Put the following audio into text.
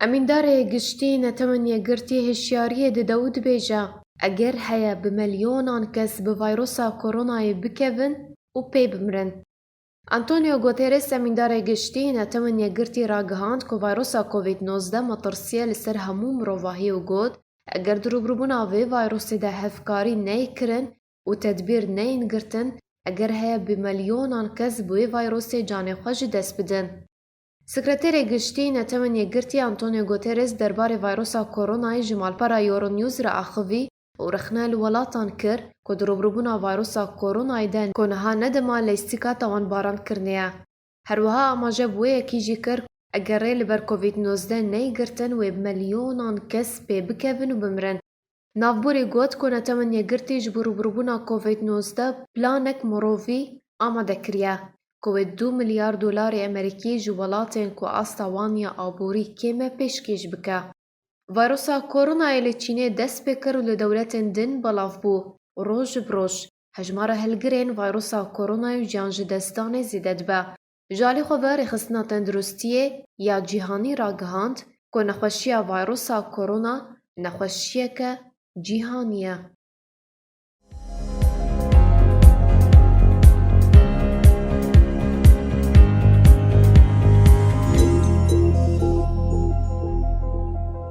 Emîndarê Giştî Netewen Yekgirtî hişyariyê dide û dibêje, Eger heye bi milyonan kes bi vayrosa koronayê bikevin û pê bimirin. Antonio Guterres Emîndarê Giştî Netewen Yekgirtî ragihand ku vayrosa Covid nozdeh metirsîye li ser hemû mirovahî û got, Eger di rûbirûbûna vê vayrosê de hevkarî ney kirin û tedbîr neyên girtin, eger heye bi milyonan kes bi wê vayrosê canê xwe ji dest bidin. Sekreterê Giştî Netewên Yekgirtî Antonio Guterres derbarê vayrosa koronayê ji malpera Euronews re axivî û rexne li welatan kir ku di rûbrûbûna vayrosa koronayê de ku niha ne dema leyîstîka tawanbaran kirine ye. Her wiha amaje bi wê yekî jî kir ku eger rê li ber covid nozdeh neyê girtin wê bi milyonan kes pê bikevin û bimirin. Navbûrê got ku netewen yekgirtî ji bo rûbirûbûna Covid nozdeh planek mirovî amade kiriye ku wê du milyar dolarê Amerîkî ji welatên ku asta wan ya aborî kêm e pêşkêş bike. Vîrusa Koronayê li Çînê dest pê kir û li dewletên din belav bû û roj bi roj hejmara hilgirên vîrusa Koronayê û giyanjidestdanê zêde dibe. Ji alî xwe ve Rêxistina Tenduristiyê ya Cîhanî ragihand ku nexweşiya vayrusa Korona nexweşiyeke cîhanî ye.